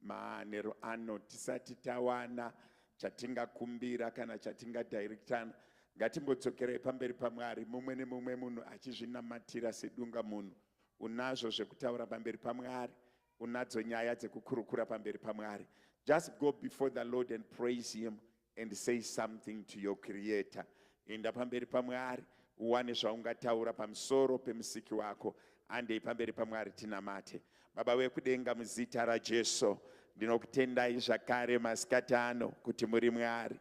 Manheru ano tisati tawana chatingakumbira kana chatingadirectana ngatimbodzokerai pamberi pamwari mumwe nemumwe munhu achizvinamatira sedunga munhu unazvo zvekutaura pamberi pamwari unadzo nyaya dzekukurukura pamberi pamwari just go before the lord and praise him and say something to your creator enda pamberi pamwari uwane zvaungataura pamusoro pemusiki wako andei pamberi pamwari tinamate baba wekudenga muzita rajesu ndinokutendai zvakare masikati ano kuti muri mwari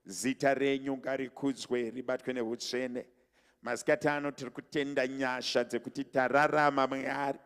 zita renyu ngarikudzwe ribatwe neutsvene Masikati ano tiri kutenda nyasha dzekuti tararama Mwari.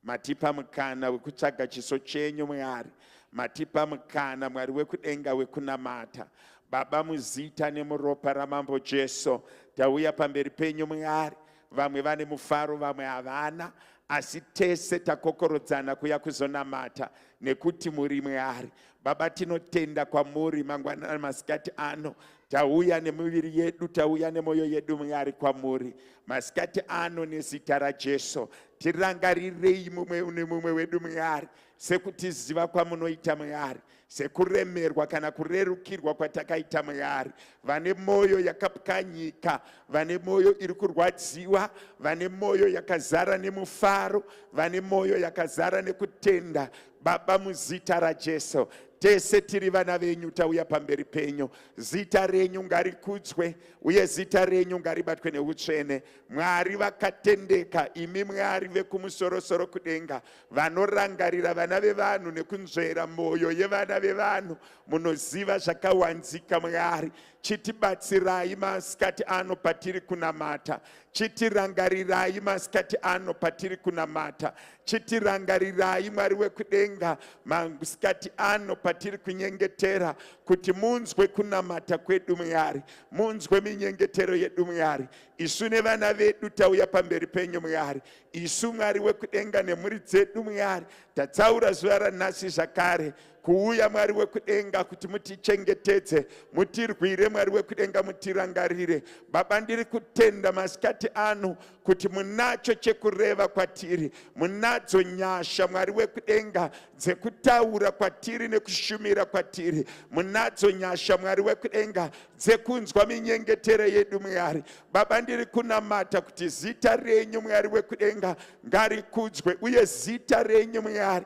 Matipa mukana wekutsvaga chiso chenyu Mwari. Matipa mukana Mwari wekudenga wekunamata. Baba muzita nemuropa ramambo Jesu tauya pamberi penyu Mwari. Vamwe vane mufaro vamwe havana asi tese takokorodzana kuya kuzonamata nekuti muri Mwari. Baba tinotenda kwamuri mangwanana masikati ano tauya nemiviri yedu tauya nemwoyo yedu mwari kwamuri masikati ano nezita rajesu tirangarirei mumwe nemumwe wedu mwari sekutiziva kwamunoita mwari sekuremerwa kana kurerukirwa kwatakaita mwari vane mwoyo yakapwanyika vane mwoyo iri kurwadziwa vane mwoyo yakazara nemufaro vane mwoyo yakazara nekutenda Baba, muzita raJesu, tese tiri vana venyu tauya pamberi penyu zita renyu ngarikudzwe uye zita renyu ngaribatwe neutsvene mwari vakatendeka imi mwari vekumusorosoro kudenga vanorangarira vana vevanhu nekunzvera mwoyo yevana vevanhu munoziva zvakawanzika mwari Chitibatsirai masikati ano patiri kunamata. Chitirangarirai masikati ano patiri kunamata. Chitirangarirai Mwari wekudenga masikati ano patiri kunyengetera kuti munzwe kunamata kwedu Mwari. Munzwe minyengetero yedu Mwari. Isu nevana vedu tauya pamberi penyu Mwari. Isu Mwari wekudenga nemhuri dzedu Mwari. Tatsaura zuva ranhasi zvakare kuuya mwari wekudenga kuti mutichengetedze mutirwire mwari wekudenga mutirangarire baba ndiri kutenda masikati ano kuti munacho chekureva kwatiri munadzo nyasha mwari wekudenga dzekutaura kwatiri nekushumira kwatiri munadzo nyasha mwari wekudenga dzekunzwa minyengetero yedu mwari baba ndiri kunamata kuti zita renyu mwari wekudenga ngarikudzwe uye zita renyu mwari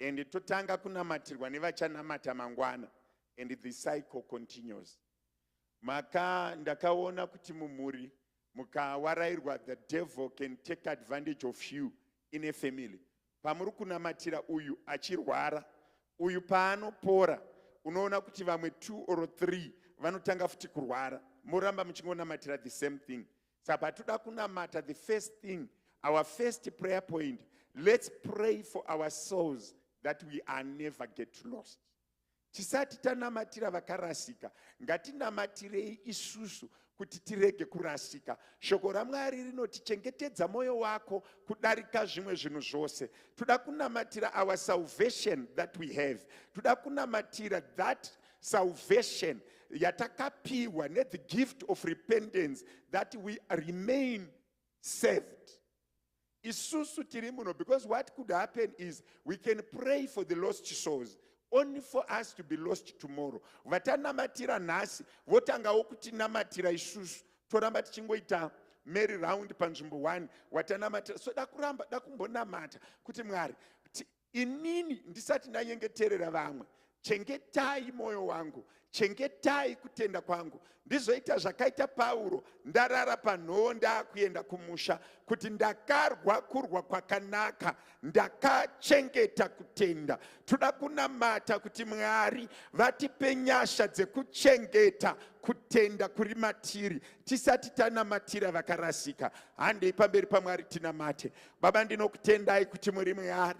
and totanga kunamatirwa nevachanamata mangwana and the cycle continues maka ndakaona kuti mumhuri mukawarairwa the devil can take advantage of you in a family pamuri kunamatira uyu achirwara uyu paanopora unoona kuti vamwe two or three vanotanga futi kurwara moramba muchingonamatira the same thing Saka patinoda kunamata the first thing our first prayer point let's pray for our souls that we are never get lost tisati tanamatira vakarasika ngatinamatirei isusu kuti tirege kurasika shoko ramwari rinoti chengetedza mwoyo wako kudarika zvimwe zvinhu zvose toda kunamatira our salvation that we have toda kunamatira that Salvation yatakapiwa ne the gift of repentance that we remain saved. Isusu tiri muno because what could happen is we can pray for the lost souls only for us to be lost tomorrow. Vatanamatira nhasi votangawo kutinamatira isusu toramba tichingoita mary round panzvimbo one watanamatira so dakuramba dakumbonamata kuti mwari inini ndisati ndanyengeterera vamwe chengetai mwoyo wangu chengetai kutenda kwangu ndizoita zvakaita pauro ndarara panhoo ndaakuenda kumusha kuti ndakarwa kurwa kwakanaka ndakachengeta kutenda toda kunamata kuti mwari vatipe nyasha dzekuchengeta kutenda kuri matiri tisati tanamatira vakarasika handei pamberi pamwari tinamate Baba, ndinokutendai kuti muri Mwari.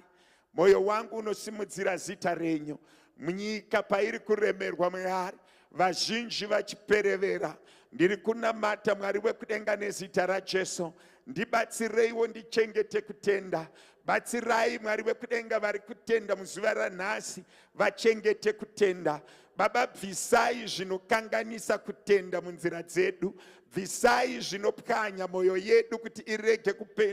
Moyo wangu unosimudzira zita renyu. Munyika pairi kuremerwa Mwari, vazhinji vachiperevera. Ndiri kunamata Mwari wekudenga nezita raJesu. Ndibatsireiwo ndichengete kutenda. Batsirai Mwari wekudenga vari kutenda muzuva ranhasi vachengete kutenda. Baba, bvisai zvinokanganisa kutenda munzira dzedu. bvisai zvinopwanya mwoyo yedu kuti irege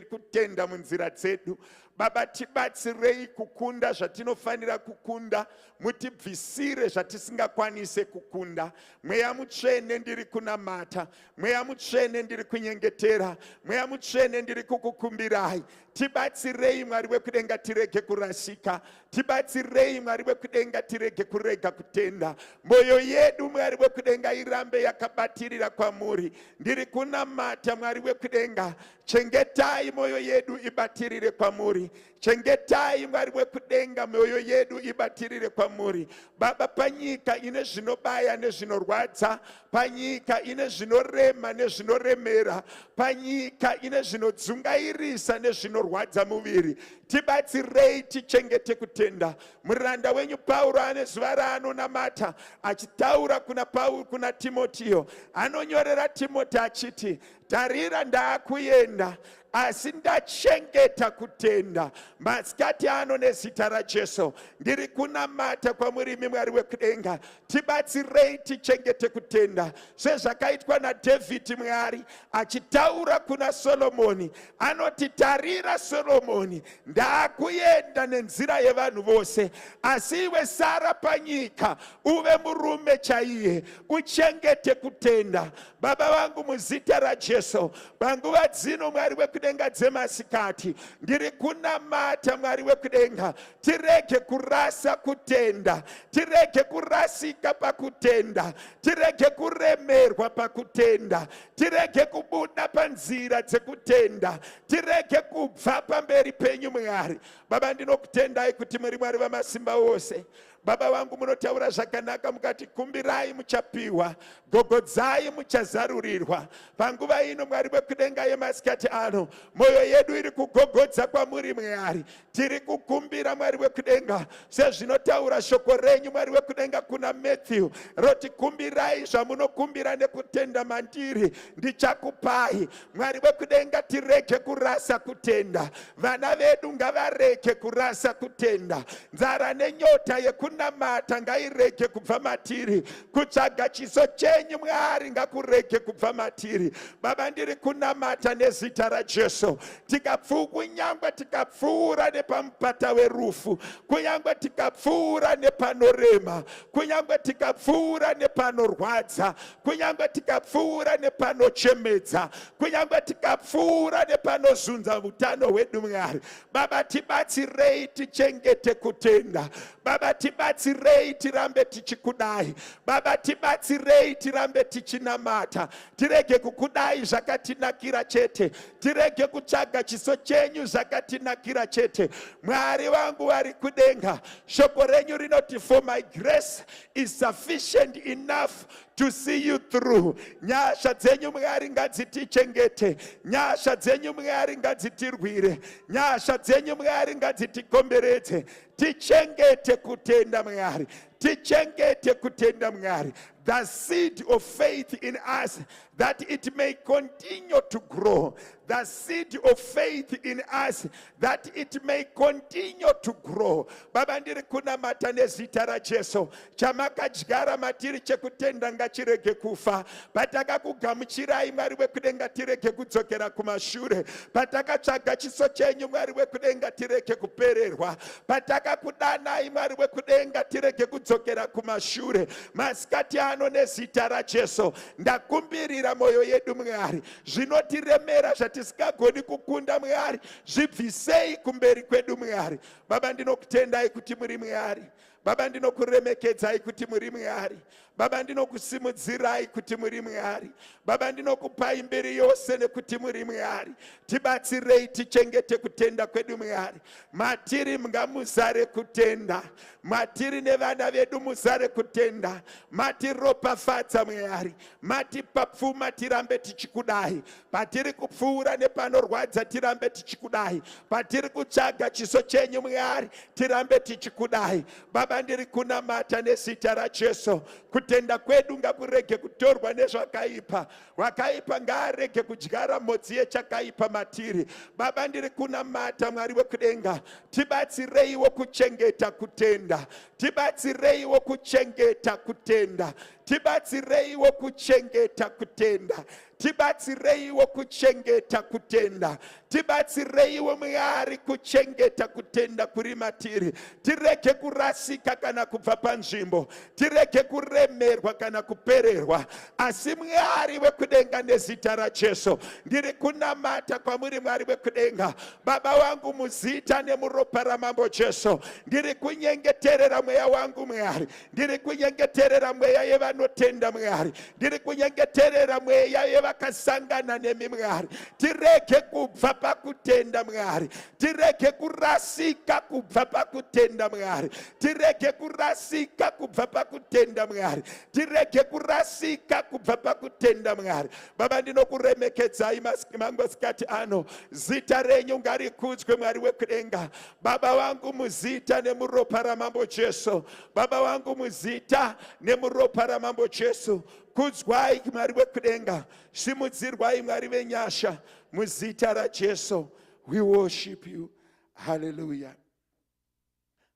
kutenda munzira dzedu baba tibatsirei kukunda zvatinofanira kukunda mutibvisire zvatisingakwanise kukunda mweya mutsvene ndiri kunamata mweya mutsvene ndiri kunyengetera mweya mutsvene ndiri kukukumbirai tibatsirei mwari wekudenga tirege kurasika Tibatsirei Mwari wekudenga tirege kurega kutenda. Moyo yedu Mwari wekudenga irambe yakabatirira kwamuri. Ndiri kunamata Mwari wekudenga chengetai moyo yedu ibatirire kwamuri. Chengetai Mwari wekudenga moyo yedu ibatirire kwamuri. Baba panyika ine zvinobaya nezvinorwadza panyika ine zvinorema nezvinoremera panyika ine zvinodzungairisa nezvinorwadza muviri tibatsirei tichengete kutenda muranda wenyu pauro ane zuva raanonamata achitaura kuna pauro kuna timotiyo anonyorera timoti achiti tarira ndaakuenda asi ndachengeta kutenda masikati ano nezita rajesu ndiri kunamata kwamurimi mwari wekudenga tibatsirei tichengete kutenda sezvakaitwa nadhavhidhi mwari achitaura kuna soromoni anoti tarira soromoni ndaakuenda nenzira yevanhu vose asi iwe sara panyika uve murume chaiye uchengete kutenda baba vangu muzita rajesu panguva dzino mwari wekudenga dzemasikati ndiri kunamata mwari wekudenga tirege kurasa kutenda tirege kurasika pakutenda tirege kuremerwa pakutenda tirege kubuda panzira dzekutenda tirege kubva pamberi penyu mwari baba ndinokutendai kuti muri mwari vamasimba ose baba vangu munotaura zvakanaka mukati kumbirai muchapiwa gogodzai muchazarurirwa panguva ino mwari vekudenga yemasikati ano mwoyo yedu iri kugogodza kwamuri mwari tiri kukumbira mwari wekudenga sezvinotaura shoko renyu mwari wekudenga kuna matthew roti kumbirai zvamunokumbira nekutenda mandiri ndichakupai mwari wekudenga tirege kurasa kutenda vana vedu ngavarege kurasa kutenda nzara nenyota yekunamata ngairege kubva matiri kutsvaga chiso chenyu mwari ngakurege kubva matiri baba ndiri kunamata nezita rajesu tikapfuu kunyangwe tikapfuura nepamupata werufu kunyangwe tikapfuura nepanorema kunyangwe tikapfuura nepanorwadza kunyangwe tikapfuura nepanochemedza kunyangwe tikapfuura nepanozunza utano hwedu mwari baba tibatsirei tichengete kutenda baba tibatsirei tirambe tichikudai baba tibatsirei tirambe tichinamata tirege kukudai zvakatinakira chete tirege kutsvaga chiso chenyu zvakatinakira chete mwari vangu vari kudenga shoko renyu rinoti for my grace is sufficient enough to see you through nyasha dzenyu mwari ngadzitichengete nyasha dzenyu mwari ngadzitirwire nyasha dzenyu mwari ngadzitikomberedze tichengete kutenda mwari tichengete kutenda mwari the seed of faith in us that it may continue to grow, the seed of faith in us, that it may continue to grow. Baba ndiri kunamata nezita raJesu, chamakadyara matiri chekutenda ngachirege kufa. Patakakugamuchirai Mwari wekudenga tirege kudzokera kumashure. Patakatsvaga chiso chenyu Mwari wekudenga tirege kupererwa. Patakakudanai Mwari wekudenga tirege kudzokera kumashure. Masikati ano nezita raJesu, ndakumbirira mwoyo yedu mwari zvinotiremera zvatisingagoni kukunda mwari zvibvisei kumberi kwedu mwari baba ndinokutendai kuti muri mwari baba ndinokuremekedzai kuti muri mwari baba ndinokusimudzirai kuti muri mwari baba ndinokupai mbiri yose nekuti muri mwari tibatsirei tichengete kutenda kwedu mwari matiri mngamuzare kutenda matiri nevana vedu muzare kutenda matiropafadza mwari matipa pfuma tirambe tichikudai patiri kupfuura nepanorwadza tirambe tichikudai patiri kutsvaga chiso chenyu mwari tirambe tichikudai baba ndiri kunamata nezita rajesu kutenda kwedu ngakurege kutorwa nezvakaipa Wakaipa ngaarege kudyara mhodzi yechakaipa matiri. Baba, ndiri kunamata Mwari wekudenga, tibatsireiwo kuchengeta kutenda, tibatsireiwo kuchengeta kutenda, tibatsireiwo kuchengeta kutenda, tibatsireiwo kuchengeta kutenda, Tibatsireiwo Mwari kuchengeta kutenda kuri matiri, tirege kurasika kana kubva panzvimbo, tirege kuremerwa kana kupererwa. Asi Mwari wekudenga, nezita raJesu ndiri kunamata kwamuri, Mwari wekudenga, Baba wangu, muzita nemuropa raMambo Jesu, ndiri kunyengeterera mweya wangu Mwari, ndiri kunyengeterera mweya yevanotenda mwari ndiri kunyengeterera mweya yevakasangana nemi mwari tirege kubva pakutenda mwari tirege kurasika kubva pakutenda mwari tirege kurasika kubva pakutenda mwari tirege kurasika kubva pakutenda mwari baba ndinokuremekedzai mangwasikati ano zita renyu ngarikudzwe mwari wekudenga Baba vangu muzita nemuropa ramambo Jesu, Baba vangu muzita nemuropa ramambo Jesu, kudzwai Mwari wekudenga, simudzirwai Mwari venyasha, muzita raJesu we worship you. Hallelujah.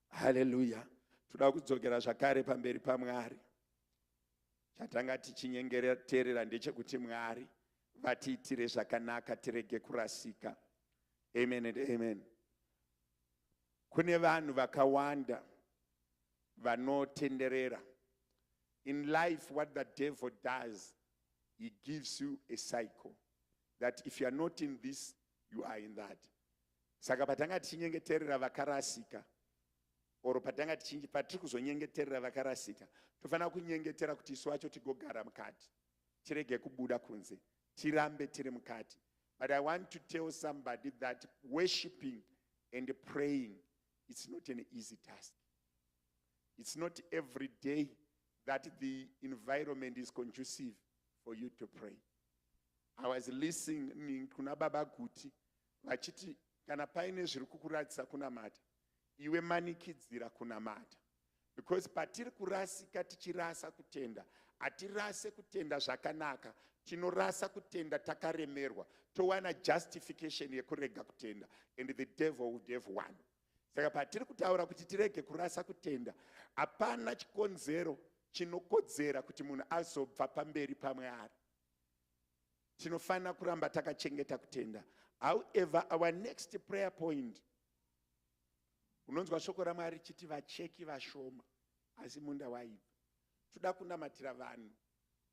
Hallelujah. Toda kudzokera zvakare pamberi paMwari. Chatanga tichinyengeterera ndechekuti Mwari vatiitire zvakanaka tirege kurasika. Amen and amen. Kune vanhu vakawanda vanotenderera. In life what the devil does he gives you a cycle that if you are not in this you are in that. Saka patanga tichinyengeterera vakarasika or patanga tichinge patiri kuzonyengeterera vakarasika tofanira kunyengetera kuti isu wacho tigogara mukati tirege kubuda kunze tirambe tiri mukati but i want to tell somebody that worshiping and praying it's not an easy task it's not every day that the environment is conducive for you to pray i was listening kuna baba guti vachiti kana paine zviri kukuratidza kunamata iwe manikidzira kunamata because patiri kurasika tichirasa kutenda hatirase kutenda zvakanaka tinorasa kutenda takaremerwa towana justification yekurega kutenda and the devil would have one saka patiri kutaura kuti tirege kurasa kutenda hapana chikonzero chinokodzera kuti munhu azobva pamberi pamwe ari tinofanira kuramba takachengeta kutenda however our next prayer point unonzwa shoko ramwari chiti vacheki vashoma asi munda waibva toda kunamatira vanhu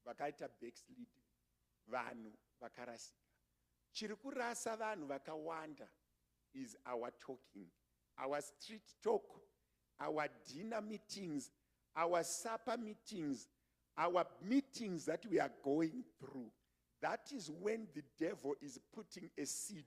vakaita backslide vanhu vakarasika chiri kurasa vanhu vakawanda is our talking our street talk our dinner meetings our supper meetings our meetings that we are going through that is when the devil is putting a seed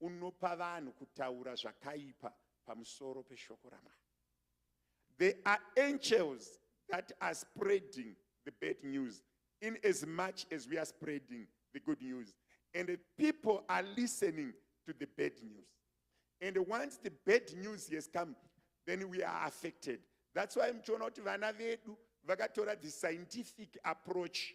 unopa vanhu kutaura zvakaipa pamusoro peshoko ramwari there are angels that are spreading the bad news in as much as we are spreading the good news and the people are listening to the bad news and once the bad news has come then we are affected that's why muchiona kuti vana vedu vakatora the scientific approach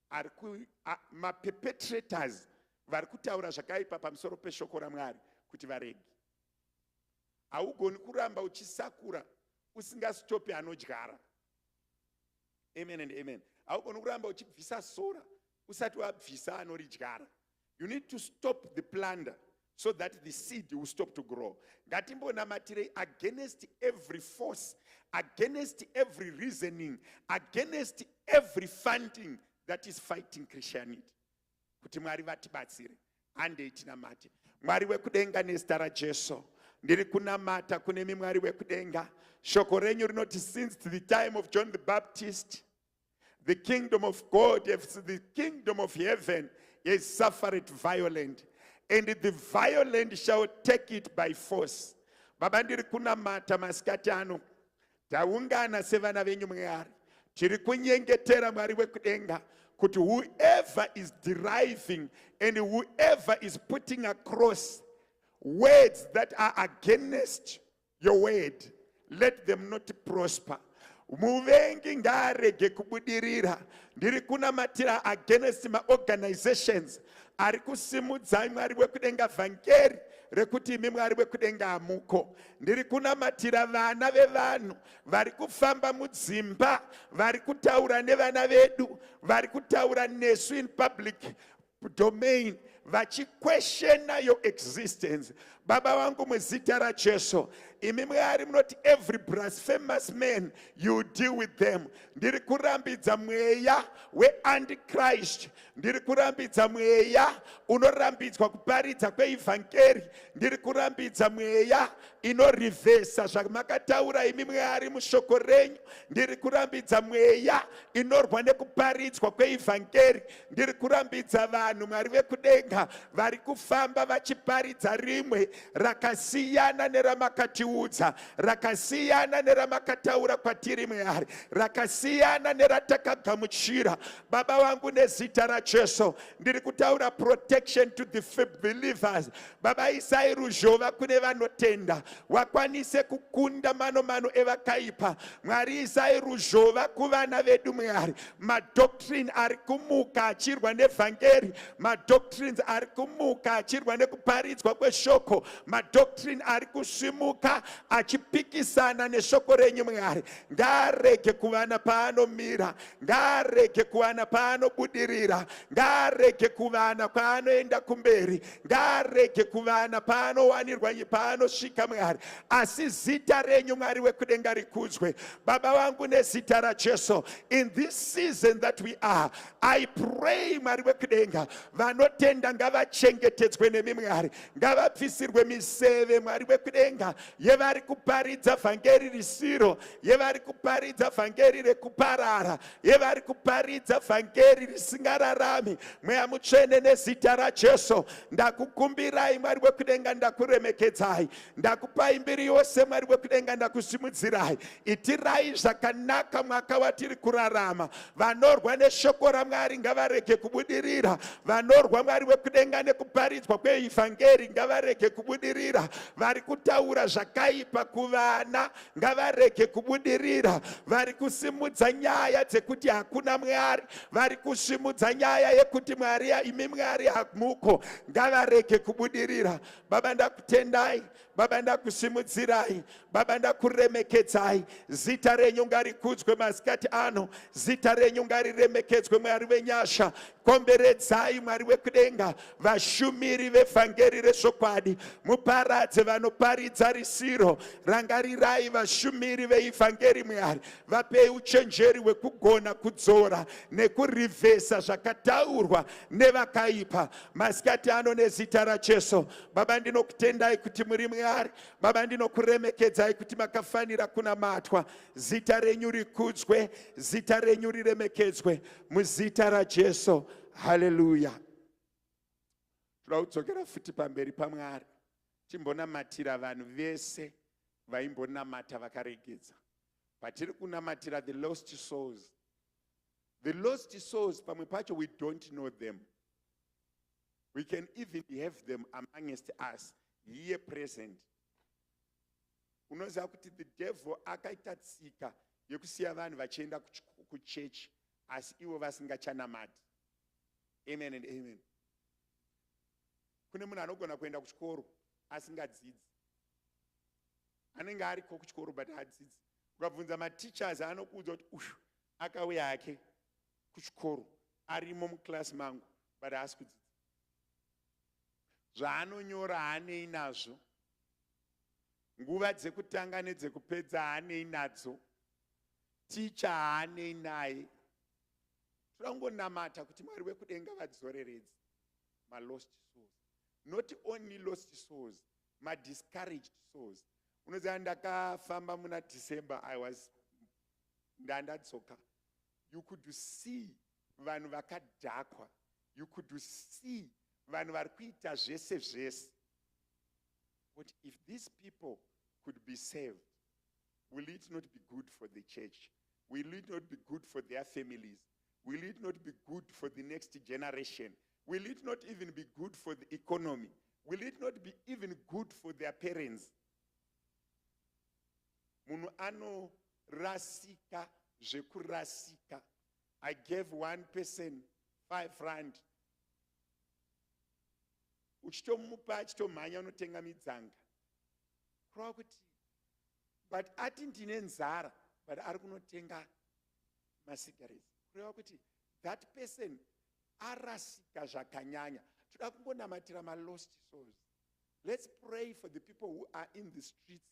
ari ku, a, maperpetrators vari kutaura zvakaipa pamusoro peshoko ramwari kuti varegi haugoni kuramba uchisakura usingazitopi anodyara amen and amen haugoni kuramba uchibvisa sora usati wabvisa anoridyara You need to stop the plunder so that the seed will stop to grow. Ngatimbonamatirei against every force, against every reasoning, against every funding that is fighting Christianity. Kuti Mwari vatibatsire. Handei tinamate. Mwari wekudenga nezita raJesu. Ndiri kunamata kune mimwari wekudenga. Shoko renyu rinoti since the time of John the Baptist The kingdom of God, the kingdom of heaven is suffered violent, and the violent shall take it by force. Baba ndiri kunamata masikati ano, taungana sevana venyu Mwari, tiri kunyengetera Mwari wekudenga kuti whoever is deriving and whoever is putting across words that are against your word let them not prosper muvengi ngaarege kubudirira ndiri kunamatira against maorganizations ari kusimudzai mwari wekudenga vhangeri rekuti imi mwari wekudenga hamuko ndiri kunamatira vana vevanhu vari kufamba mudzimba vari kutaura nevana vedu vari kutaura nesu in public domain vachikweshena your existence baba vangu muzita rajesu imi mwari munoti every blasphemous man you deal with them ndiri kurambidza mweya weantichrist ndiri kurambidza mweya unorambidzwa kuparidza kweivhangeri ndiri kurambidza mweya inorivhesa zvamakataura imi mwari mushoko renyu ndiri kurambidza mweya inorwa nekuparidzwa kweivhangeri Ndiri kurambidza vanhu Mwari vekudenga vari kufamba vachiparidza rimwe rakasiyana neramakatiudza, rakasiyana neramakataura kwatiri Mwari, rakasiyana neratakagamuchira. Baba vangu nezita raJesu ndiri kutaura protection to the believers Baba isai ruzhova kune vanotenda wakwanise kukunda mano mano evakaipa mwari isai ruzhova kuvana vedu mwari madoctrine ari kumuka achirwa nevhangeri madoctrines ari kumuka achirwa nekuparidzwa kweshoko madoctrine ari kusvimuka achipikisana neshoko renyu mwari ngaarege kuvana paanomira ngaarege kuvana paanobudirira ngaarege kuvana kwaanoenda kumberi ngaarege kuvana paanowanirwa paanosvika mwari asi zita renyu mwari wekudenga rikudzwe baba vangu nezita rajesu in this season that we are i pray mwari wekudenga vanotenda ngavachengetedzwe nemi mwari ngavabvisirwe miseve mwari wekudenga yevari kuparidza vhangeri risiro yevari kuparidza vhangeri rekuparara yevari kuparidza vhangeri risingararami mweya mutsvene nezita rajesu ndakukumbirai mwari wekudenga ndakuremekedzai ndakupai mbiri yose mwari wekudenga ndakusimudzirai itirai zvakanaka mwaka watiri kurarama vanorwa neshoko ramwari ngavarege kubudirira vanorwa mwari wekudenga nekuparidzwa kweivhangeri ngavarege kubudirira vari kutaura zvakaipa kuvana ngavarege kubudirira vari kusimudza nyaya dzekuti hakuna mwari vari kusimudza nyaya yekuti mwari imi mwari hamuko ngavarege kubudirira baba ndakutendai baba ndakusimudzirai baba ndakuremekedzai zita renyu ngarikudzwe masikati ano zita renyu ngariremekedzwe mwari venyasha Komberedzai Mwari wekudenga vashumiri vevhangeri rezvokwadi, muparadze vanoparidza risiro. Rangarirai vashumiri veivhangeri Mwari, vapei uchenjeri hwekugona kudzora nekurivhesa zvakataurwa nevakaipa masikati ano nezita raJesu. Baba, ndinokutendai kuti muri Mwari. Baba, ndinokuremekedzai kuti makafanira kunamatwa. Zita renyu rikudzwe, zita renyu riremekedzwe. muzita rajesu haleluya toda kudzokera futi pamberi pamwari timbonamatira vanhu vese vaimbonamata vakaregedza patiri kunamatira the lost souls the lost souls pamwe pacho we don't know them we can even have them amongst us here present unoziva kuti the devil akaita tsika yekusiya vanhu vachienda kuchechi asi ivo vasingachanamati amen and amen kune munhu anogona kuenda kuchikoro asingadzidzi anenge ariko kuchikoro but adzidzi ukabvunza mateachers anokuudza kuti uyu akauya hake kuchikoro arimo muclass mangu but haasi kudzidza zvaanonyora haanei nazvo nguva dzekutanga nedzekupedza haanei nadzo ticha haanei naye toda kungonamata kuti mwari wekudenga vadzoreredzi malost souls not only lost souls madiscouraged souls unoziva ndakafamba muna december i was ndandadzoka you could see vanhu vakadhakwa you could see vanhu vari kuita zvese zvese kuti if these people could be saved will it not be good for the church will it not be good for their families will it not be good for the next generation will it not even be good for the economy will it not be even good for their parents munhu anorasika zvekurasika I gave one person five rand uchitomupa achitomhanya unotenga midzanga kurava kuti but ati ndine nzara but ari kunotenga masigaret kureva kuti that person arasika zvakanyanya toda kungonamatira malost souls let's pray for the people who are in the streets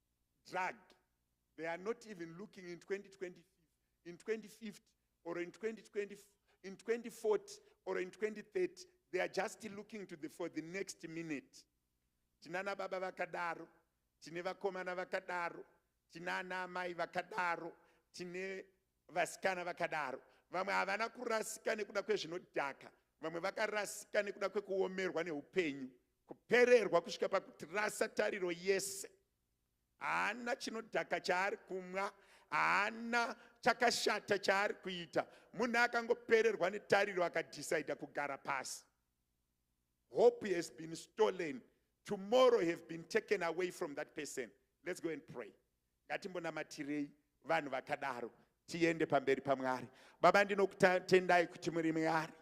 drug they are not even looking in 2025 in 2050 or in 2020 in 2040 or in 2030 they are just looking to the for the next minute tinana baba vakadaro tine vakomana vakadaro tinana amai vakadaro tine vasikana vakadaro vamwe havana kurasika nekuda kwezvinodhaka vamwe vakarasika nekuda kwekuomerwa neupenyu Kupererwa kusvika pakutirasa tariro yese. Haana chinodhaka chaari kumwa, haana chakashata chaari kuita. Munhu akangopererwa netariro akadhisaidha kugara pasi. Hope has been stolen. Tomorrow have been taken away from that person. Let's go and pray. ngatimbonamatirei vanhu vakadaro tiende pamberi pamwari baba ndinokutendai kuti muri mwari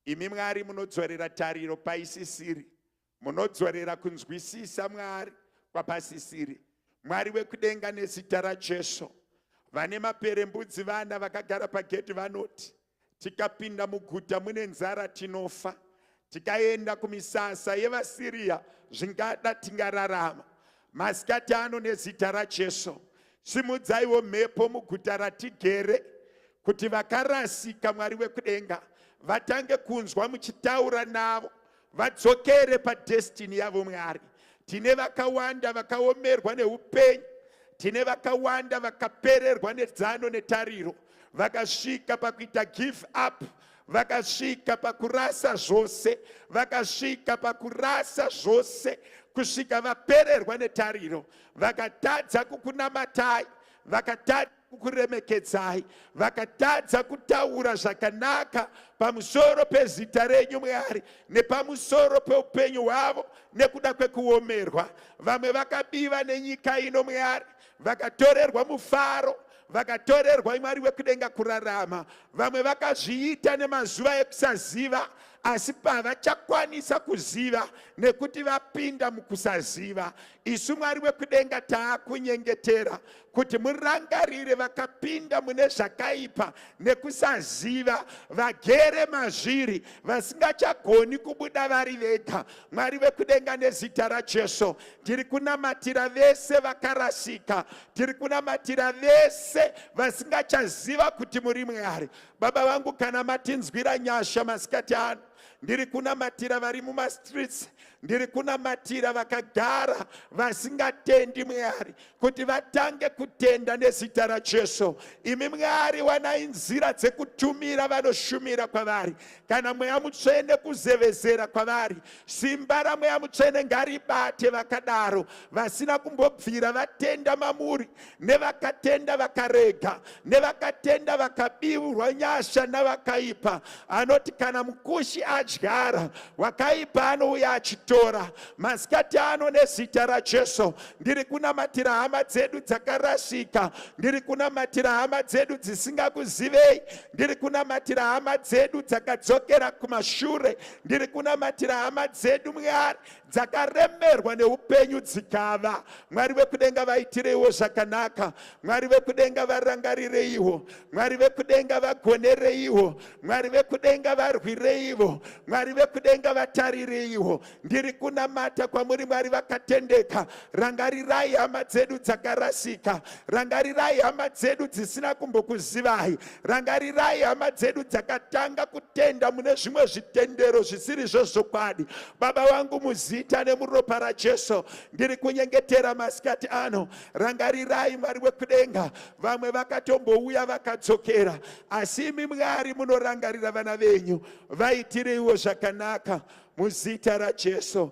imi mwari munodzorera tariro paisisiri munodzorera kunzwisisa mwari kwapasisiri mwari wekudenga nezita rajesu vane maperembudzi vana vakagara pagedhi vanoti Tikapinda muguta mune nzara tinofa, tikaenda kumisasa yevaSiriya zvingada tingararama. Masikati ano nezita raJesu, simudzaiwo mhepo muguta ratigere kuti vakarasika Mwari wekudenga vatange kunzwa muchitaura navo vadzokere padestiny yavo mwari tine vakawanda vakaomerwa neupenyu tine vakawanda vakapererwa nedzano netariro vakasvika pakuita give up vakasvika pakurasa zvose vakasvika pakurasa zvose kusvika vapererwa netariro vakatadza kukunamatai vakatadza kukuremekedzai vakatadza kutaura zvakanaka pamusoro pezita renyu mwari nepamusoro peupenyu hwavo nekuda kwekuomerwa vamwe vakabiva nenyika ino mwari vakatorerwa mufaro vakatorerwa mwari wekudenga kurarama vamwe vakazviita nemazuva ekusaziva asi pavachakwanisa kuziva nekuti vapinda mukusaziva isu mwari wekudenga taakunyengetera kuti murangarire vakapinda mune zvakaipa nekusaziva vagere mazviri vasingachagoni kubuda vari vega mwari vekudenga nezita rajesu tiri kunamatira vese vakarasika tiri kunamatira vese vasingachaziva kuti muri mwari baba vangu kana matinzwira nyasha masikati ano ndiri kunamatira vari mumastreets ndiri kunamatira vakagara vasingatendi mwari kuti vatange kutenda nezita raJesu. Imi Mwari, wanai nzira dzekutumira vanoshumira kwavari. Kana Mweya Mutsvene kuzevezera kwavari, simba raMweya Mutsvene ngaribate vakadaro, vasina kumbobvira vatenda mamuri, nevakatenda vakarega, nevakatenda vakabiurwa nyasha navakaipa anoti kana mukushi adyara wakaipa anouya achitora masikati ano nezita rajesu ndiri kunamatira hama dzedu dzakarasika ndiri kunamatira hama dzedu dzisingakuzivei ndiri kunamatira hama dzedu dzakadzokera kumashure ndiri kunamatira hama dzedu mwari dzakaremerwa neupenyu dzikava mwari vekudenga vaitireiwo zvakanaka mwari vekudenga varangarireiwo mwari vekudenga vagonereiwo mwari vekudenga varwireivo mwari vekudenga vatarireiwo ndiri kunamata kwamuri mwari vakatendeka Rangarirai hama dzedu dzakarasika. Rangarirai hama dzedu dzisina kumbokuzivai. Rangarirai hama dzedu dzakatanga kutenda mune zvimwe zvitendero zvisiri zvezvokwadi. Baba vangu muzita nemuropa raJesu, ndiri kunyengetera masikati ano. Rangarirai Mwari wekudenga. Vamwe vakatombouya vakadzokera, asi imi Mwari munorangarira vana venyu. Vaitireiwo zvakanaka muzita raJesu.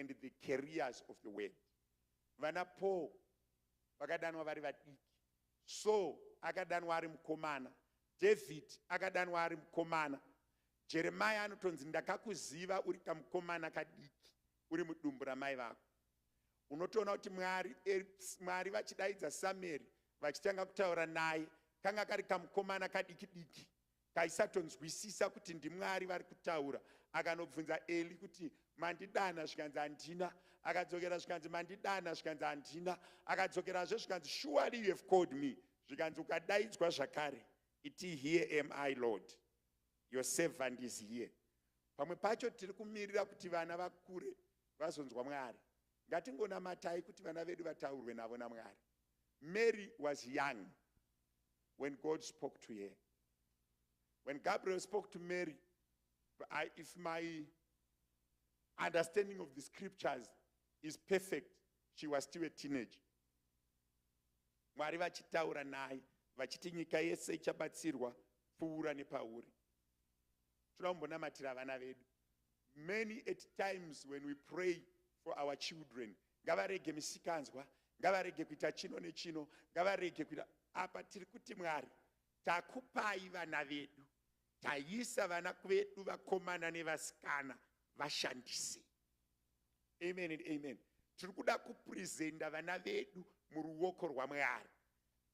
and the carriers of the word vana paul vakadanwa vari vadiki saul akadanwa ari mukomana david akadanwa ari mukomana jeremaya anotonzi ndakakuziva uri kamukomana kadiki uri mudumbu ramai vako unotoona kuti mwari eh, mwari vachidaidza samueri vachitanga kutaura naye kanga kari kamukomana kadiki diki Kaisatonzwisisa kuti ndiMwari vari kutaura. Akanobvunza Eli kuti, Mandidana? Zvikanzi, Handina. Akadzokera zvikanzi, Mandidana? Zvikanzi, Handina. Akadzokerazve zvikanzi, Surely you have called me. Zvikanzi, Ukadaidzwa zvakare. Iti, Here am I, Lord. Your servant is here. Pamwe pacho tiri kumirira kuti vana vakure vazonzwa Mwari. Ngatingonamatai kuti vana vedu vataurwe navo naMwari. Mary was young. when God spoke to her. When Gabriel spoke to Mary, I, if my understanding of the scriptures is perfect, she was still a teenager. Mwari vachitaura naye vachiti nyika yese ichabatsirwa pfuura nepauri. Toda kumbonamatira vana vedu. Many at times when we pray for our children, ngavarege misikanzwa ngavarege kuita chino nechino ngavarege kuita apa tiri kuti mwari takupai vana vedu taisa vana vedu vakomana nevasikana vashandise amen and amen tiri kuda kupresenta vana vedu muruoko rwamwari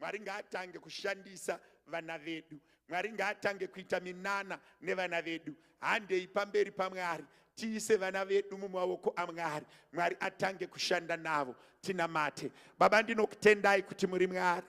mwari ngaatange kushandisa vana vedu mwari ngaatange kuita minana nevana vedu handei pamberi pamwari tiise vana vedu mumaoko amwari mwari atange kushanda navo tinamate baba ndinokutendai kuti muri mwari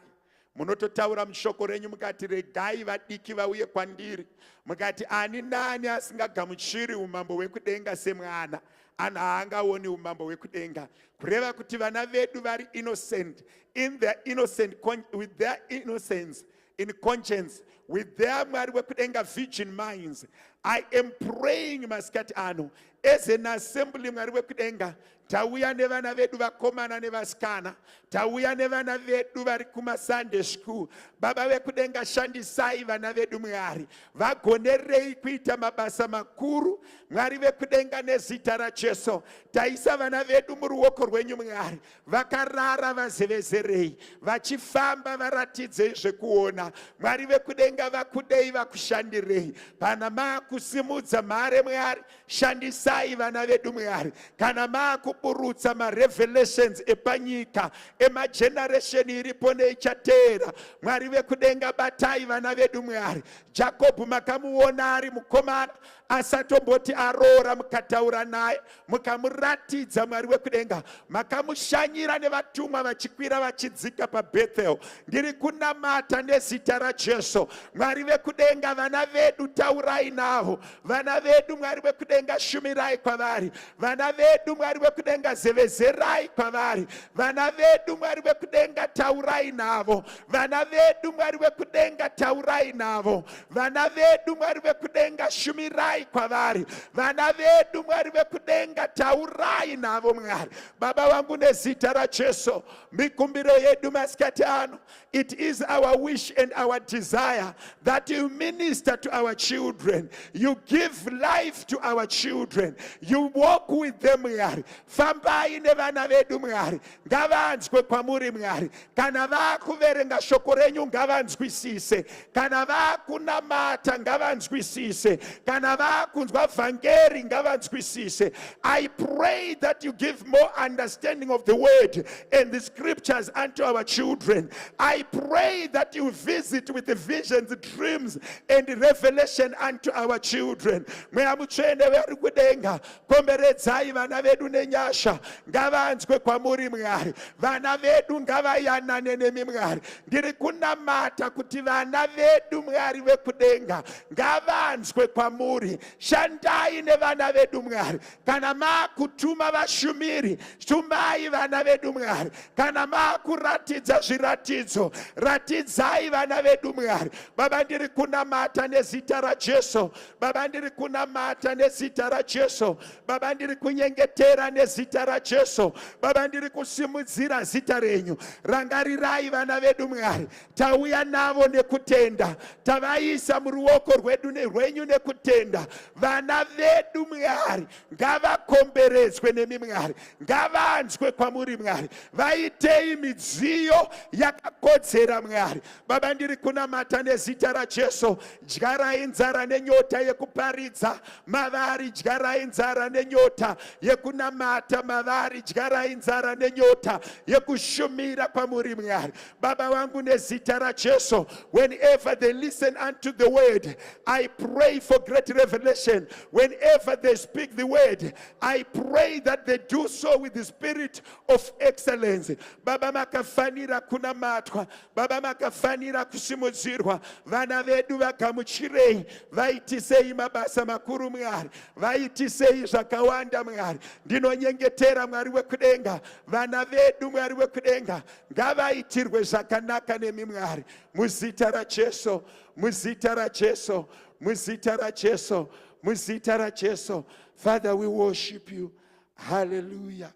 munototaura mushoko renyu mukati regai vadiki vauye kwandiri mukati ani nani asingagamuchiri umambo hwekudenga semwana and haangaoni umambo hwekudenga kureva kuti vana vedu vari innocent in their innocent with their innocence in conscience with their mwari wekudenga virgin minds i am praying masikati ano as an assembly mwari wekudenga tauya nevana vedu vakomana nevasikana Tauya nevana vedu vari kumasunday school. Baba vekudenga, shandisai vana vedu Mwari, vagonerei kuita mabasa makuru. Mwari vekudenga, nezita raJesu taisa vana vedu muruoko rwenyu Mwari. Vakarara vazevezerei, vachifamba varatidzei zvekuona. Mwari vekudenga, vakudei, vakushandirei. Pana makusimudza mhare Mwari, Shandisai vana vedu Mwari kana maakuburutsa marevelations epanyika emageneration iripo neichateera. Mwari vekudenga batai vana vedu Mwari. Jakobho makamuona ari mukomana asatomboti aroora mukataura naye mukamuratidza Mwari wekudenga makamushanyira nevatumwa vachikwira vachidzika paBethel. Ndiri kunamata nezita raJesu. Mwari vekudenga vana vedu taurai navo vana vedu mwari wekudenga shumirai kwavari vana vedu mwari wekudenga zevezerai kwavari vana vedu mwari wekudenga taurai navo vana vedu mwari wekudenga taurai navo vana vedu mwari wekudenga shumirai kwavari vana vedu mwari wekudenga taurai navo mwari baba vangu nezita rajesu mikumbiro yedu masikati ano It is our wish and our desire that you minister to our children. You give life to our children. You walk with them, Mwari. Fambai nevana vedu, Mwari. Ngavanzwe kwamuri, Mwari. Kana vakuverenga shoko renyu, ngavanzwisise. kana vakunamata ngavanzwisise kana vakunzwa vhangeri ngavanzwisise i pray that you give more understanding of the word and the scriptures unto our children i pray that you visit with the visions dreams and revelation unto our children mweya mutsvene vari kudenga komberedzai vana vedu nenyasha ngavanzwe kwamuri mwari vana vedu ngavayanane nemi mwari Ndiri kunamata kuti vana vedu Mwari vekudenga ngavanzwe kwamuri. Shandai nevana vedu Mwari. Kana makutuma vashumiri, tumai vana vedu Mwari. Kana makuratidza zviratidzo, ratidzai vana vedu Mwari. Baba ndiri kunamata nezita raJesu. Baba ndiri kunamata nezita raJesu. Baba, ndiri kunyengetera nezita raJesu. Baba, ndiri kusimudzira zita renyu. Rangarirai vana vedu, Mwari. Tauya navo nekutenda, tavaisa muruoko rwedu rwenyu nekutenda. Vana vedu, Mwari, ngavakomberedzwe nemi, Mwari. Ngavanzwe kwamuri, Mwari. Vaitei midziyo yakakodzera, Mwari. Baba, ndiri kunamata nezita raJesu. Dyarai nzara nenyota yekuparidza mavari, dyarai nzara nenyota yekunamata mavari, dyarai nzara nenyota yekushumira kwamuri Mwari. Baba wangu nezita raJesu, whenever they listen unto the word, I pray for great revelation. Whenever they speak the word, I pray that they do so with the spirit of excellence. Baba makafanira kunamatwa, Baba makafanira kusimudzirwa, vana vedu vagamuchirei, vaitisei mabasa makuru Mwari, vaitisei zvakawanda Mwari. Ndinonyengetera Mwari wekudenga, vana vedu Mwari wekudenga ngavaitirwe zvakanaka nemi Mwari, muzita raJesu, muzita raJesu, muzita raJesu, muzita raJesu. Father, we worship you. Hallelujah.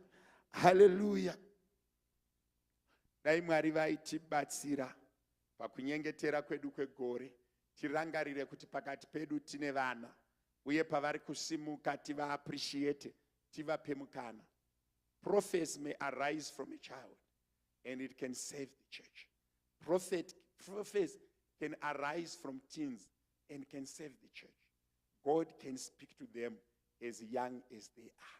Hallelujah. dai mwari vaitibatsira pakunyengetera kwedu kwegore tirangarire kuti pakati pedu tine vana uye pavari kusimuka tivaappreciate tivape mukana prophets may arise from a child and it can save the church prophet prophets can arise from teens and can save the church. God can speak to them as young as they are.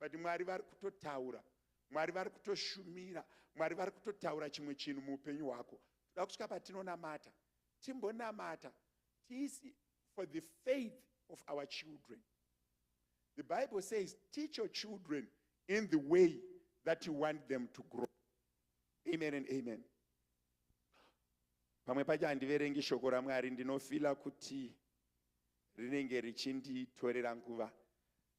but mwari vari kutotaura mwari vari kutoshumira mwari vari kutotaura chimwe chinhu muupenyu hwako toda kusvika patinonamata timbonamata tisi for the faith of our children the bible says teach your children in the way that you want them to grow amen and amen pamwe pacho handiverengi shoko ramwari ndinofila kuti rinenge richinditorera nguva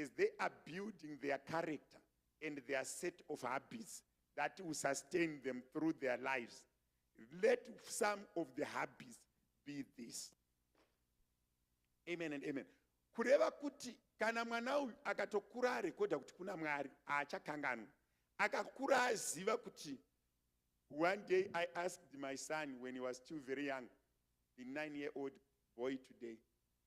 as they are building their character and their set of habits that will sustain them through their lives. Let some of the habits be this. Amen and amen. Kureva kuti kana mwana uyu akatokura arekodha kuti kuna mwari haachakanganwi akakura aziva kuti one day i asked my son when he was still very young the nine year old boy today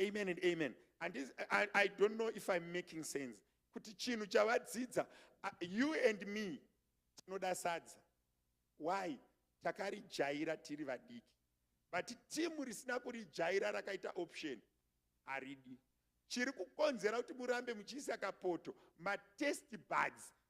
amen and amen and this, I, i don't know if i'm making sense kuti chinhu chavadzidza uh, you and me tinoda sadza why takarijaira tiri vadiki but timu risina kurijaira rakaita option haridi chiri kukonzera kuti murambe muchiisa kapoto matest buds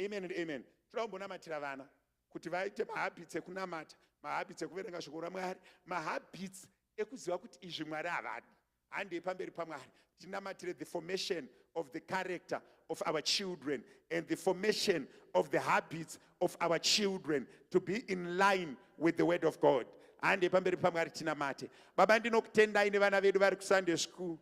Amen and amen. Toda kumbonamatira vana kuti vaite mahabits ekunamata, mahabits ekuverenga shoko raMwari, mahabits ekuziva kuti izvi Mwari havadi. Handei pamberi paMwari tinamatire the formation of the character of our children and the formation of the habits of our children to be in line with the word of God. Handei pamberi paMwari tinamate. Baba ndinokutendai nevana vedu vari kuSunday school.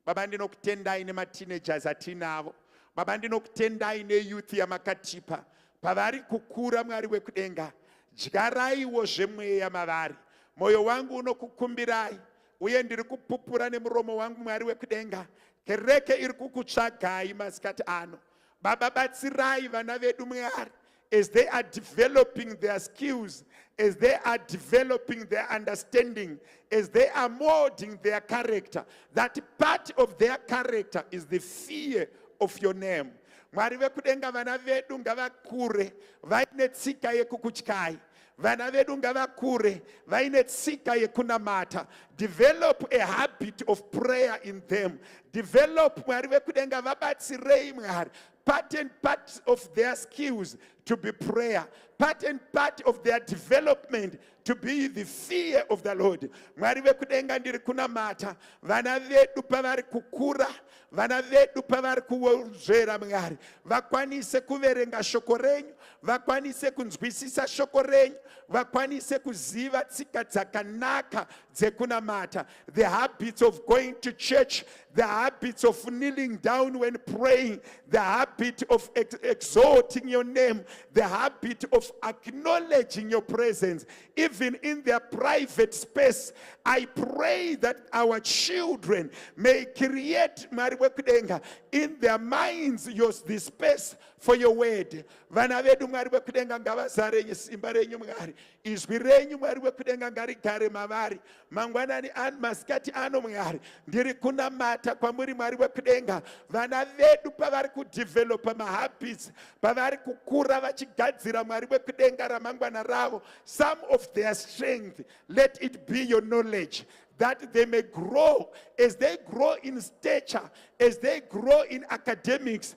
Baba ndinokutendai nemateenagers atinavo. Baba ndinokutendai neyouth yamakatipa. Pavari kukura Mwari wekudenga, dyaraiwo zvemweya mavari. Moyo wangu unokukumbirai uye ndiri kupupura nemuromo wangu Mwari wekudenga. Kereke iri kukutsvagai masikati ano. Baba batsirai vana vedu Mwari as they are developing their skills, as they are developing their understanding, as they are molding their character, that part of their character is the fear of your name. Mwari vekudenga vana vedu ngavakure vaine tsika yekukutyai Vana vedu ngavakure vaine tsika yekunamata. Develop a habit of prayer in them. Develop Mwari vekudenga vabatsirei Mwari. Part and part of their skills to be prayer. Part and part of their development to be the fear of the Lord. Mwari vekudenga ndiri kunamata. Vana vedu pavari kukura vana vedu pavari kuwonzvera mwari vakwanise kuverenga shoko renyu vakwanise kunzwisisa shoko renyu vakwanise kuziva tsika dzakanaka dzekunamata the habits of going to church the habits of kneeling down when praying the habit of ex exalting your name the habit of acknowledging your presence even in their private space i pray that our children may create mwari wekudenga in their minds yos the space for your word vana vedu mwari wekudenga ngavazare simba renyu mwari izwi renyu mwari wekudenga ngarigare mavari mangwanani ano masikati ano mwari ndiri kunamata kwamuri mwari wekudenga vana vedu pavari kudhivhelopa mahabits pavari kukura vachigadzira mwari wekudenga ramangwana ravo some of their strength let it be your knowledge that they may grow as they grow in stature as they grow in academics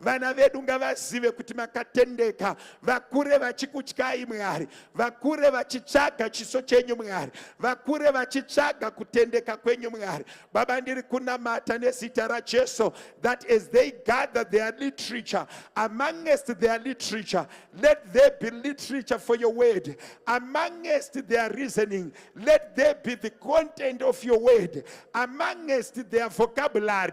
Vana vedu ngavazive kuti makatendeka, vakure vachikutyai Mwari, vakure vachitsvaga chiso chenyu Mwari, vakure vachitsvaga kutendeka kwenyu Mwari. Baba, ndiri kunamata nezita raJesu that as they gather their literature, amongst their literature, let there be literature for your word. Amongst their reasoning, let there be the content of your word. Amongst their vocabulary,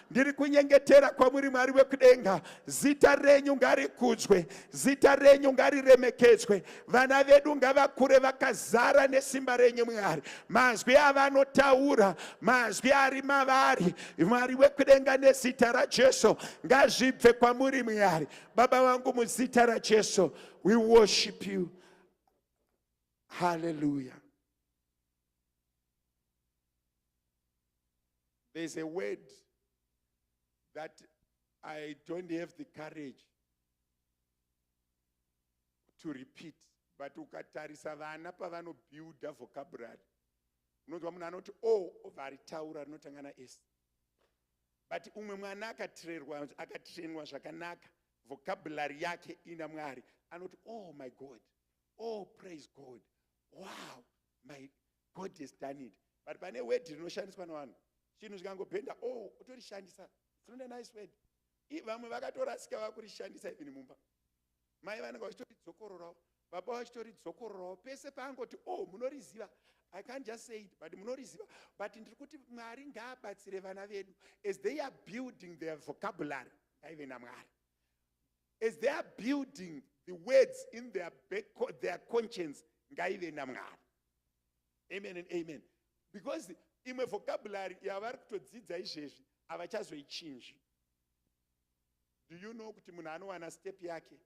Ndiri kunyengetera kwamuri Mwari wekudenga, zita renyu ngarikudzwe, zita renyu ngariremekedzwe. Vana vedu ngavakure vakazara nesimba renyu Mwari. Mazwi avanotaura, mazwi ari mavari, Mwari wekudenga, nezita raJesu ngazvibve kwamuri Mwari. Baba vangu, muzita raJesu, we worship you. Hallelujah. There's a word that I don't have the courage to repeat but ukatarisa vana pavanobuilda vocabulary unonzwa munhu anoti o oh, obva aritaura rinotanga nas but umwe mwana akatrerwa akatrenwa zvakanaka vocabulary yake ina mwari anoti oh my god oh praise god wow my God has done it. But pane word rinoshandiswa navanhu. Chinhu zvikangobhenda, oh, utorishandisa. It's not a nice word. Vamwe vakatorasika vakurishandisa even mumba. Mai vanenge vachitoridzokororao. Baba vachitoridzokororao. Pese paangoti, oh, munoriziva. I can't just say it, but munoriziva. But ndiri kuti Mwari ngaabatsire vana vedu as they are building their vocabulary. Ngaive naMwari. As they are building the words in their, back, their conscience, ngaive naMwari. amen and amen because imwe vocabulary yavari kutodzidza izvezvi havachazoichinji do you know kuti munhu anowana step yake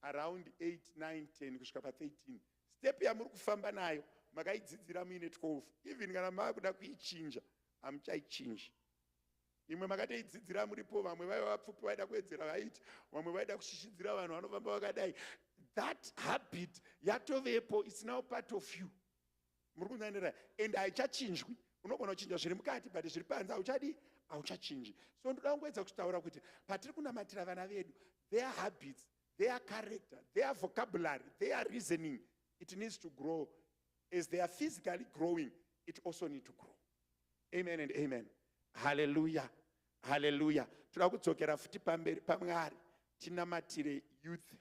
around 8 9 10 kusvika pa13 step yamuri kufamba nayo makaidzidzira muine 12 even kana maakuda kuichinja hamuchaichinji imwe makatoidzidzira muripo vamwe vaiva vapfupi vaida kuedzera vaiti vamwe vaida kushishidzira vanhu vanofamba vakadai that habit yatovepo its now part of you muri kunzanira and haichachinjwi unogona kuchinja zviri mukati but zviri panze hauchadii hauchachinji so ndoda kungoedza kutaura kuti patiri kunamatira vana vedu their habits their character their vocabulary their reasoning it needs to grow as they are physically growing it also need to grow Amen and amen. Hallelujah. Hallelujah. Toda kudzokera futi pamberi paMwari tinamatire youth.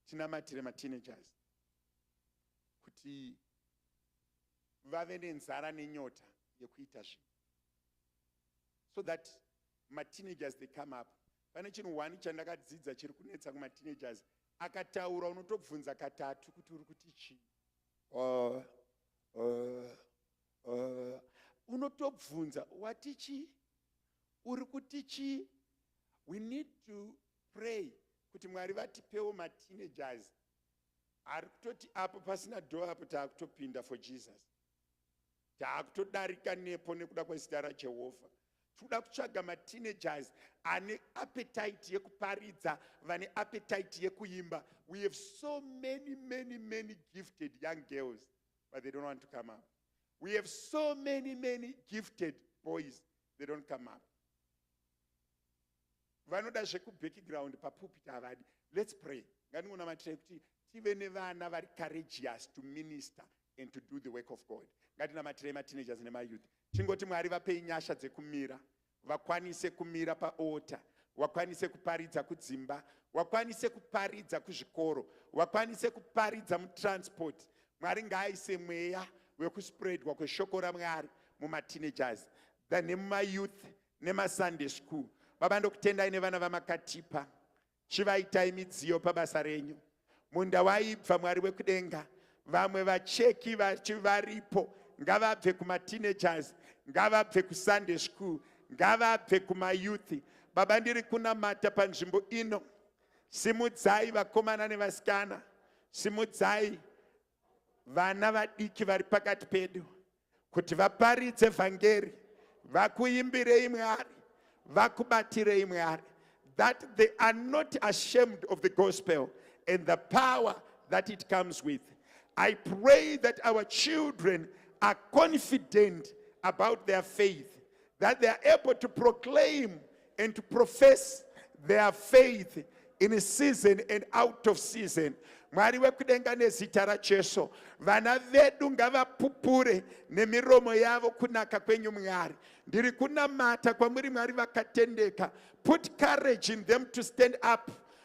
Tinamatire ma teenagers. Kuti vave nenzara nenyota yekuita zvinhu. So that ma teenagers they come up. Pane chinhu one chandakadzidza chiri kunetsa kuma teenagers akataura unotobvunza katatu kuti uri kuti chii. Uh, uh, Uh, unotobvunza wati chii uri kuti chii we need to pray kuti mwari vatipewo mateenagers ari kutoti apo pasina dho apo taakutopinda for jesus taakutodarika nepo nekuda kwezita rajehovha tikuda kutsvaga mateenagers ane appetite yekuparidza vane appetite yekuimba we have so many many many gifted young girls but they don't want to come up we have so many many gifted boys they don't come up vanoda zvekubackground papupit havadi let's pray ngandingonamatirai kuti tive nevana vari courageous to minister and to do the work of god ngatinamatirei mateenagers nemayouth chingoti mwari vapei nyasha dzekumira vakwanise kumira paota wakwanise kuparidza kudzimba wakwanise kuparidza kuzvikoro wakwanise kuparidza mutransport mwari ngaaise mweya wekuspreadwa kweshoko ramwari mumateenagers than nemumayouth nemasunday school baba ndokutendai nevana vamakatipa Chivaitai midziyo pabasa renyu. Munda waibva Mwari wekudenga. Vamwe vacheki vachi varipo ngavabve kuma teenagers, ngavabve ku Sunday school, ngavabve kuma youth. Baba ndiri kunamata panzvimbo ino. Simudzai vakomana nevasikana. Simudzai vana vadiki vari pakati pedu kuti vaparidze vhangeri vakuimbirei mwari vakubatirei mwari that they are not ashamed of the gospel and the power that it comes with i pray that our children are confident about their faith that they are able to proclaim and to profess their faith in season and out of season mwari wekudenga nezita rajesu vana vedu ngavapupure nemiromo yavo kunaka kwenyu mwari ndiri kunamata kwamuri mwari vakatendeka put courage in them to stand up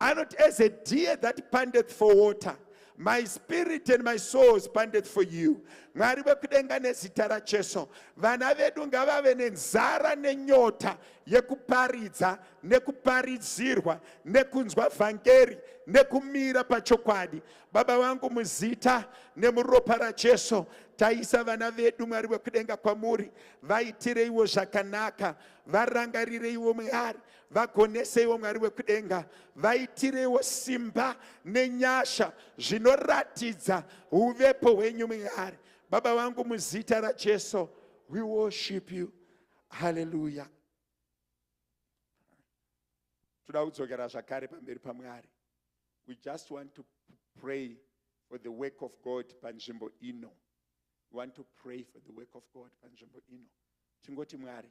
anoti as a deer that pandeth for water my spirit and my soul is pandeth for you mwari vekudenga nezita rajesu vana vedu ngavave nenzara nenyota yekuparidza nekuparidzirwa nekunzwa vhangeri nekumira pachokwadi baba vangu muzita nemuropa rajesu taisa vana vedu mwari vekudenga kwamuri vaitireiwo zvakanaka varangarireiwo mwari vagoneseiwo mwari wekudenga vaitireiwo simba nenyasha zvinoratidza uvepo hwenyu mwari baba vangu muzita rajesu we worship you haleluya toda kudzokera zvakare pamberi pamwari we just want to pray for the work of god panzvimbo ino we want to pray for the work of god panzvimbo ino tingoti mwari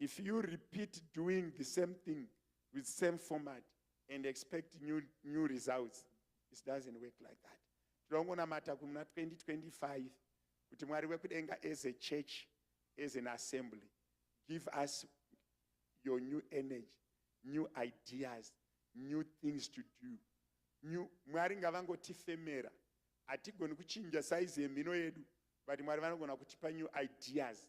if you repeat doing the same thing with same format and expect new, new results it doesn't work like that tinongonamata kumuna 2025 kuti mwari wekudenga as a church as an assembly give us your new energy new ideas new things to do new mwari ngavangotifemera hatigoni kuchinja saizi yemhino yedu but mwari vanogona kutipa new ideas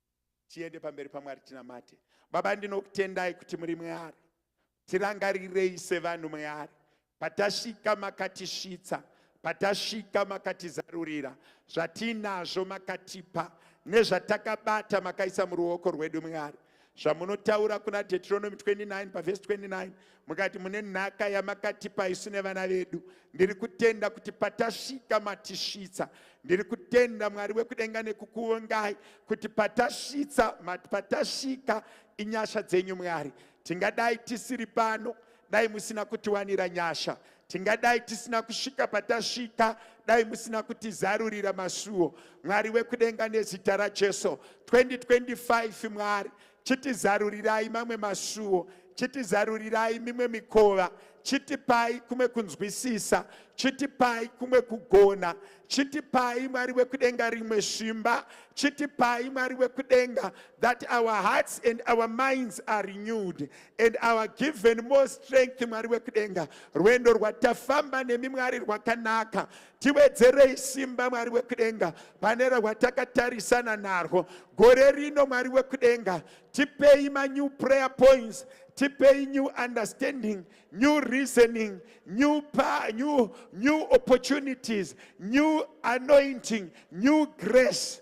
tiende pamberi pamwari tinamate baba ndinokutendai kuti muri mwari tirangarirei sevanhu mwari patasvika makatisvitsa patasvika makatizarurira zvatiinazvo makatipa nezvatakabata makaisa muruoko rwedu mwari zvamunotaura kuna deuteronomy 29 pavhesi 29 mukati mune nhaka yamakatipa isu nevana vedu ndiri kutenda kuti patasvika matisvitsa ndiri kutenda mwari wekudenga nekukuongai kuti patasvitsa patasvika inyasha dzenyu mwari tingadai tisiri pano dai musina kutiwanira nyasha tingadai tisina kusvika patasvika dai musina kutizarurira masuwo mwari wekudenga nezita rajesu 2025 mwari chitizarurirai mamwe masuwo chitizarurirai mimwe mikova chitipai kumwe kunzwisisa chitipai kumwe kugona chitipai mwari wekudenga rimwe simba chitipai mwari wekudenga that our hearts and our minds are renewed and our given more strength mwari wekudenga rwendo rwatafamba nemi mwari rwakanaka Tiwedzerei simba Mwari wekudenga pane rwatakatarisa narwo gore rino. Mwari wekudenga, tipei ma new prayer points, tipei new understanding, new reasoning, new, pa, new, new opportunities, new anointing, new grace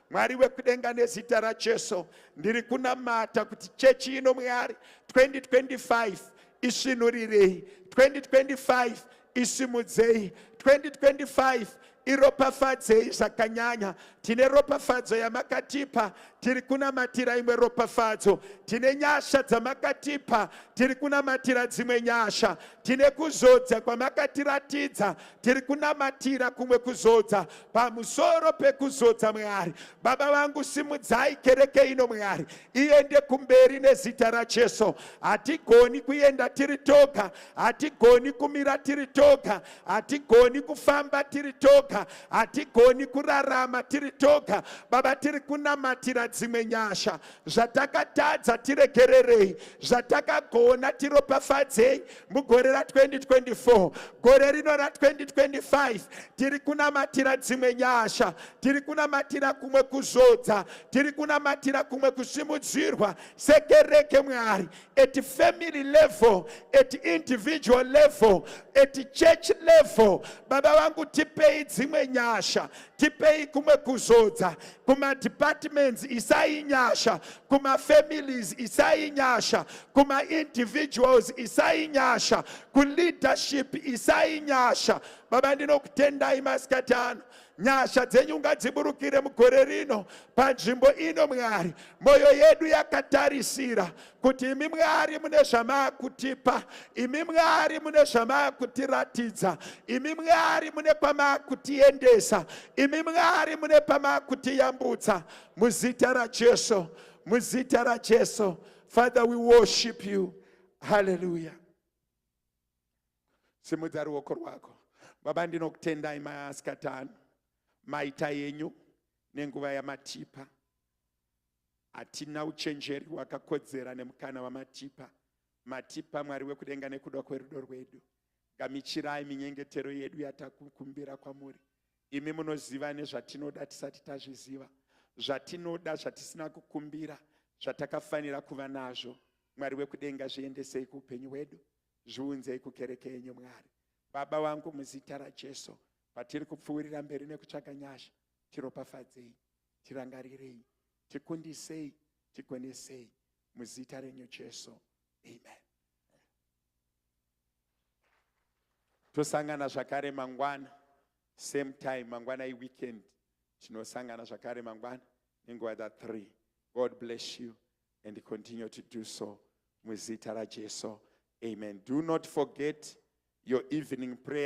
Mwari wekudenga nezita raJesu ndiri kunamata kuti chechi ino Mwari 2025 isvinurirei 2025 isimudzei 2025 iropafadzei zvakanyanya tine ropafadzo yamakatipa tiri kunamatira imwe ropafadzo tine nyasha dzamakatipa tiri kunamatira dzimwe nyasha tine kuzodza kwamakatiratidza tiri kunamatira kumwe kuzodza pamusoro pekuzodza mwari baba vangu simudzai kereke ino mwari iende kumberi nezita racheso hatigoni kuenda tiri toga hatigoni kumira tiri toga hatigoni kufamba tiri toga hatigoni kurarama tiri toga baba tiri kunamatira dzimwe nyasha zvatakatadza tiregererei zvatakagona tiropafadzei mugore ra2024 gore rino ra2025 tiri kunamatira dzimwe nyasha tiri kunamatira kumwe kuzodza tiri kunamatira kumwe kusimudzirwa sekereke mwari at family level at individual level at church level baba vangu tipei dzimwe nyasha tipei kumwe kuzodza kumadepartments isai nyasha kumafamilies isai nyasha kumaindividuals isai nyasha kuleadership isai nyasha baba ndinokutendai masikati ano nyasha dzenyu ngadziburukire mugore rino panzvimbo ino mwari mwoyo yedu yakatarisira kuti imi mwari mune zvamakutipa imi mwari mune zvamakutiratidza imi mwari mune kwamakutiendesa imi mwari mune pamakutiyambutsa muzita rajesu muzita rajesu father we worship you haleluya simudza ruoko rwako baba ndinokutendai maasikatano maita yenyu nenguva yamatipa Hatina uchenjeri hwakakodzera nemukana wamatipa. Matipa Mwari wekudenga nekuda kwerudo rwedu. Gamichirai minyengetero yedu yatakukumbira kwamuri. Imi munoziva nezvatinoda tisati tazviziva. Zvatinoda zvatisina kukumbira zvatakafanira kuva nazvo. Mwari wekudenga zviendesei kuupenyu hwedu. Zviunzei kukereke yenyu Mwari. Baba wangu muzita raJesu patiri kupfuurira mberi nekutsvaga nyasha tiropafadzei. tirangarirei tikundisei tigonesei muzita renyu jesu amen tosangana zvakare mangwana same time mangwana iweekend tinosangana zvakare mangwana nenguva dza three god bless you and continue to do so muzita rajesu amen do not forget your evening prayer